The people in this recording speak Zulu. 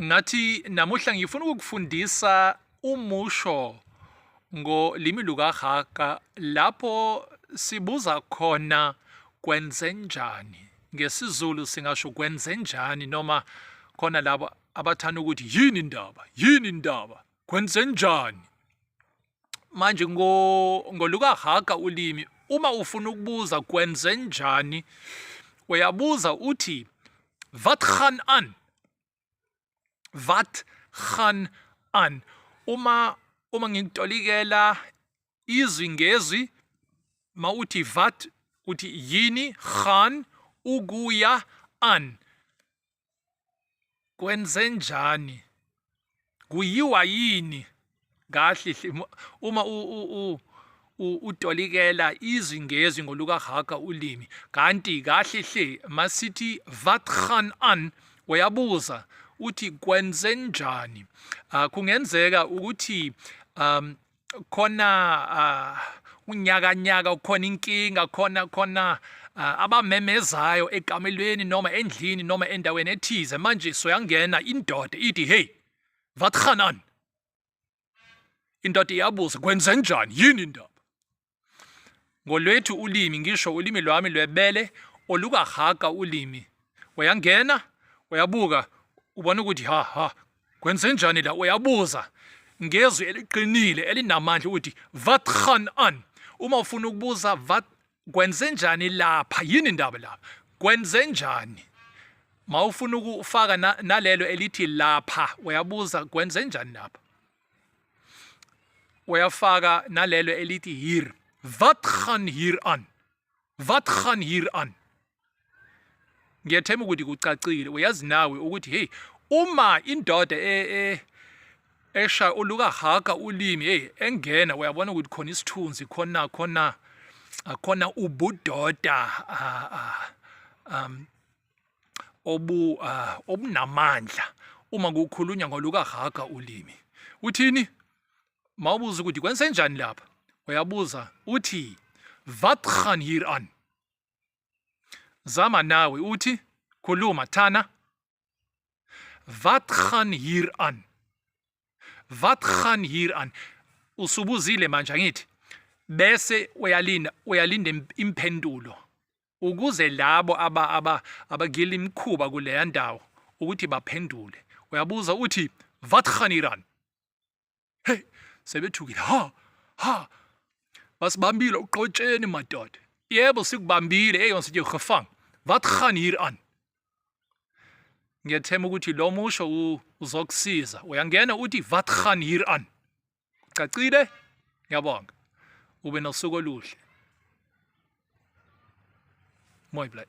Ngathi namuhla ngifuna ukukufundisa umusho ngolimi lukaHaga lapho sibuza khona kwenzenjani. NgesiZulu singasho kwenzenjani noma khona labo abathanda ukuthi yini indaba, yini indaba, kwenzenjani. manje ngo ngoluka haga ulimi uma ufuna ukubuza kwenze njani uyabuza uthi wat gaan aan wat gaan aan uma uma ngikutolikela izwi ngezwi mawuthi vat uthi yini khan ukuya an kwenzenjani kuyiwa yini kahle uma utolikela izwi ngezwi ngolukahaga ulimi kanti kahle hle masithi wat gaan aan uyabuza uthi kwenzenjani uh, kungenzeka ukuthi um khona uh, unyakanyaka ukhona inkinga khona khona uh, abamemezayo ekamelweni noma endlini noma endaweni ethize manje soyangena indoda ithi hey wat gaan aan indoda iyabuza kwenzenjani yini indaba ngolwethu ulimi ngisho ulimi lwami lwebele olukahaga ulimi uyangena uyabuka ubona ukuthi ha ha kwenzenjani la uyabuza ngezwi eliqinile elinamandla ukuthi wat gaan aan uma ufuna ukubuza wat kwenzenjani lapha yini indaba lapha kwenzenjani mawufuna ukufaka nalelo elithi lapha uyabuza kwenzenjani lapha uyafaka nalelo elithi hier wat gaan hier aan wat gaan hier aan ngiyathemba ukuthi kucacile uyazi nawe ukuthi hey uma indoda e, e, esha uluka haka ulimi hey engena uyabona ukuthi khona isithunzi khona khona akhona ubudoda ah, ah, um obu uh, obunamandla uma kukhulunywa ngolukahaga ulimi uthini mawubuza ukuthi kwenzenjani lapha uyabuza uthi wat gaan hier aan zama nawe uthi khuluma thana wat gaan hier aan wat gaan hier aan usubuzile manje angithi bese uyalinda uyalinda impendulo ukuze labo aba aba abagila imkhuba kuleya ndawo ukuthi baphendule uyabuza uthi vatkhani iran hey sebethukile ha ha basibambile uqotsheni madoda yebo sikubambile hey ons jy gevang wat gaan hier aan ngiyethema ukuthi lo musho uzokusiza uyangena uthi wat gaan hier aan Cacile? Ngiyabonga. Ube nosuku oluhle. Mooi blij.